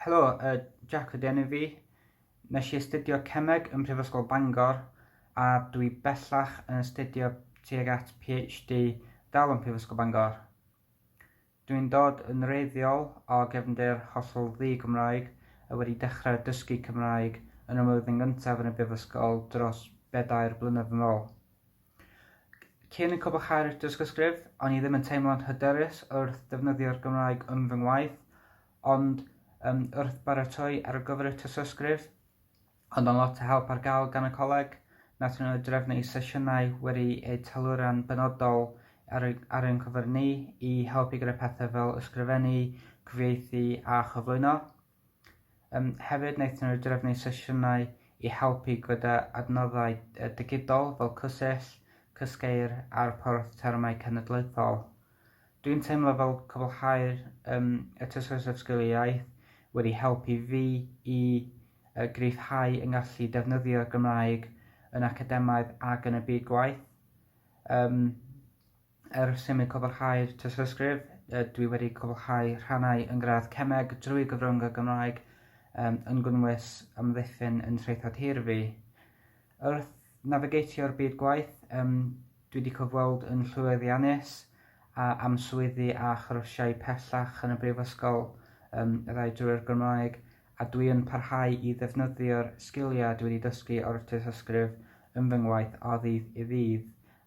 Helo, uh, Jack ydy enw fi. Nes i astudio cemeg ym Mhrifysgol Bangor a dwi bellach yn astudio tuag at PhD dal ym Mhrifysgol Bangor. Dwi'n dod yn reiddiol o gefndir hollol ddi Gymraeg a wedi dechrau dysgu Cymraeg yn y mlwyddyn gyntaf yn y Brifysgol dros bedair blynedd yn ôl. Cyn y cwblhau'r dysgysgrif, o'n i ddim yn teimlo'n hyderus wrth ddefnyddio'r Gymraeg yn fy ngwaith, ond um, wrth baratoi ar gyfer y tysysgrif, ond o'n lot o help ar gael gan y coleg, nath nhw drefnu sesiynau wedi eu taluran benodol ar, ar ein cyfer ni i helpu gyda pethau fel ysgrifennu, cyfieithu a chyflwyno. Yym hefyd wnaethon nhw drefnu sesiynau i helpu gyda adnoddau digidol fel Cysell, Cysgeir a'r porth termau cenedlaethol. Dwi'n teimlo fel cwblhau'r um, y tystysgrif sgiliau iaith wedi helpu fi i uh, gryfhau yng ngallu defnyddio'r Gymraeg yn academaidd ac yn y byd gwaith. Um, Ers i mi cwblhau'r tystysgrif, dwi wedi cwblhau rhannau yn gradd Cemeg drwy gyfrwng y Gymraeg um, yn gwnnwys amddiffyn yn Traethod Hir fi. Wrth navigatio'r byd gwaith, um, dwi wedi cyfweld yn llwyddiannus a am swyddi a chyrsiau pellach yn y brifysgol um, y ddau drwy'r Gymraeg, a dwi yn parhau i ddefnyddio'r sgiliau dwi wedi dysgu o'r tystysgrif yn fy ngwaith o ddydd i ddydd.